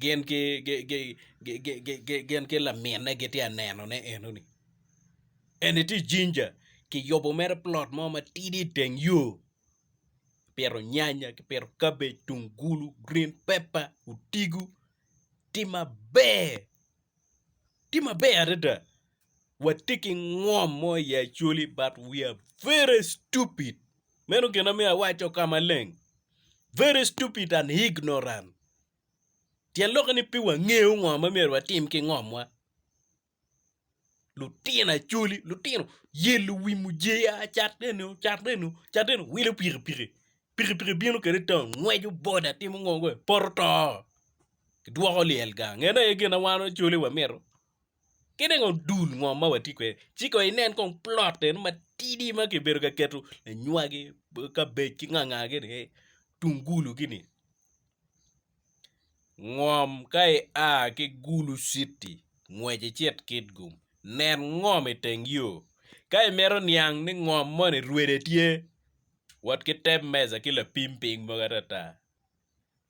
gin ki laminne gitye ka nenone enoni eni tye jinja kiyubo mere plot mo matidi i teng yo kipito nyanya, kipito kabej, tungulu, gurin pepa, otigo tye maber tye maber adada. watye ki ngom mo i Acholi but we are very stupid meno gin ma myero awaco ka maleng very stupid and ignorant tyen lokke ni pe wangeyo ngo ma myero watim ki ngomwa lutino Acholi lutino yelo wi mujeya cat eno cat eno cat eno wilo pikipiki, pikipiki bino kwede i taun ngweco boda timo ngo poto to kidwoko lyel gang en aye gin ma wan Acholi wamito. ki dong odul ngom ma watye kwede ci kong inen kong plot eno matidi ma kibedo ka keto lanywagi, kabej ki nga nga gini ni tungulu gini ngom ka ia ki gulu citi ngwec icit kitgum nen ngom iteng yo ka imito niang ni ngom moni rwede tye wot ki te meja ki lapim piny mogo atata.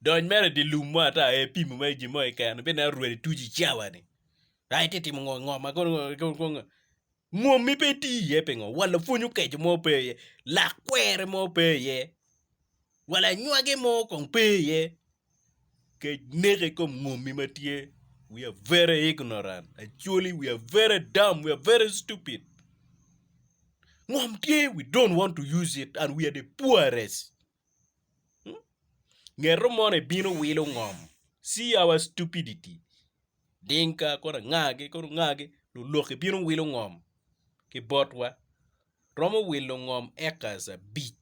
Dony mere i dye lum mo ata aye ipimo mere ki gin mo keken, ibed neno rwed ituc i cawa-ni. Ka itye ka timo ngo ngo ma kono ngo ngo ngo, mwommi pe iti iye pingo? Wa lapwony okeco mo pe iye, lak kwere mo pe iye, wa lanywage mo kong pe iye. Kec neko i kom mwommi ma tye. We are very ignorant, actually we are very dumb, we are very stupid. Ngom tye, we don't want to use it and we are the poorest. Ngeto mono ebino wilo ngom. See our stupidity. Dinka kono anga gi kono anga gi luloki bino wilo ngom ki botwa. Romo wilo ngom acres abic.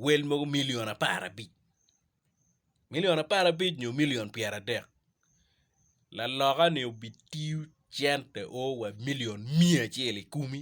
Wel mogo million apar abic. Million apar abic nyo million pyera adek. Laloka ni obi tiyo cente o wa million miya acel ikumi.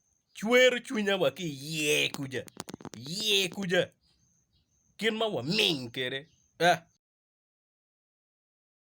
Cwero cwinya wa ki iye kuca, iye kuca, kit ma waming kwede. Ah!